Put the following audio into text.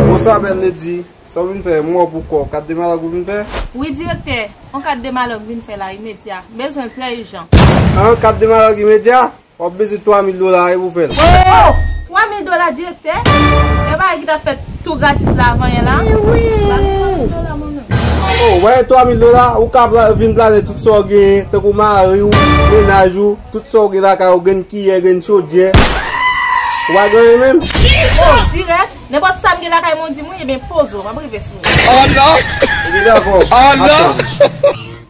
Bonswa bèl lady, sa w vin fè, m wè w pou kò, kat de malòk ou vin fè? Wi direktè, on kat de malòk vin fè la imedya, m bezwen l trè ijan. An, kat de malòk imedya? W ap bezwen 3 mil dola wi pou w fè l. Ohh! 3 mil dola direktè? Yon bagay ki t ap fèt Tou gratis la vanyan la. Oh wè 3000 dola ou ka vin plane tout sa ou genyen tankou mari ou, mennaj ou, tout sa ou gen lakay ou, grenn kiyè, grenn chodyè. Ou pa gen anyen menm? Oh dirèk, nenpòt sa m gen lakay mwen di m wi, ebyen poze w, m ap rive sou ou. Oh non! Ebyen dakò, ap tann.